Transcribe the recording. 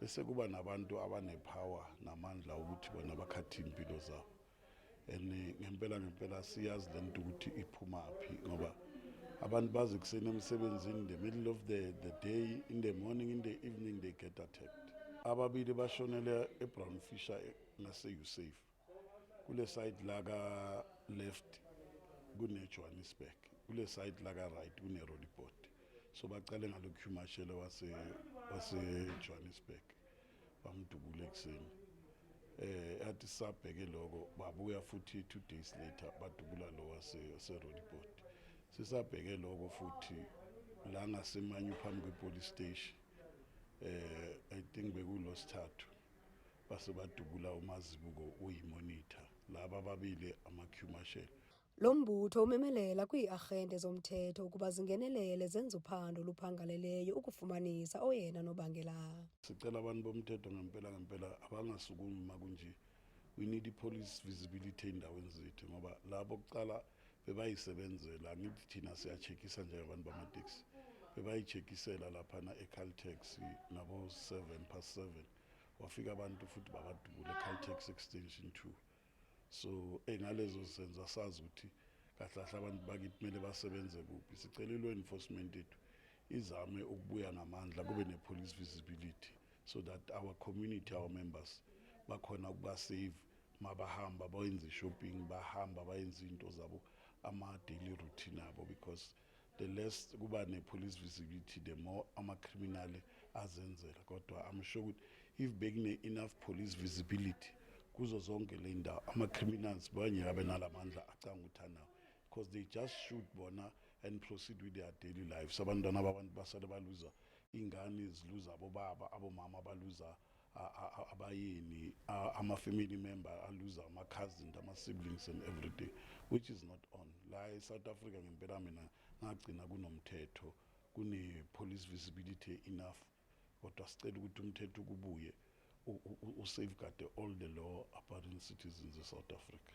bese kuba nabantu abanepower namandla ukuthi bona bakhathe impilo zabo and ngempela ngempela siyazi lento ukuthi iphuma phi ngoba abantu bazi kuseni emsebenzini in the middle of the, the day in the morning in the evening they get attacked ababili bashonele ebrown fisher ngase-usafe kule side la ka left kunejohannesburg kule side la ka right kuneroliport so bacale ngalokuhumashele wasejohannesburg bamdubule ekuseni eh athi sabheke lokho babuya futhi two days later badubula lo waseroliport sisabheke lokho futhi la ngasemanyu phambi kwepolice station eh i think bekulosithathu base badubula umazibuko uyimonitha laba babili ama-q marshal Lo mbutho umemelela kwii-arhente zomthetho ukuba zingenelele zenze uphando oluphangaleleyo ukufumanisa oyena nobangela. sicela abantu bomthetho ngempela ngempela abangasukumi makunje we need i-police visibility ey'ndaweni zethu ngoba labo kuqala bebayisebenzela angithi thina siyacheckisa nje abantu bamateksi bebayicheckisela laphana ecaltex nabo 7 past 7 wafika abantu futhi babadubula ecaltex extension 2 so engalezo senza sazi ukuthi kahlahle abantu bakithi kumele basebenze kuphi sicela ilo enforcement yethu izame ukubuya ngamandla kube ne police visibility so that our community our members bakhona ukubasave mabahamba bayenze shopping bahamba bayenze into zabo ama daily routine abo because the less kuba ne police visibility the more ama criminal azenzela kodwa i'm sure ukuthi if bekune enough police visibility kuzo zonke le ndawo ama criminals banye abe nalamandla acanga uthanawo because they just shoot bona and proceed with their daily lives abantwana babantu basale baluza ingane ziluza abobaba abomama baluza abayini ama family member aluza ama cousins ama siblings and everything which is not on la e South Africa ngempela mina ngagcina kunomthetho kune police visibility enough kodwa sicela ukuthi umthetho kubuye u safeguard all the law abiding citizens of South Africa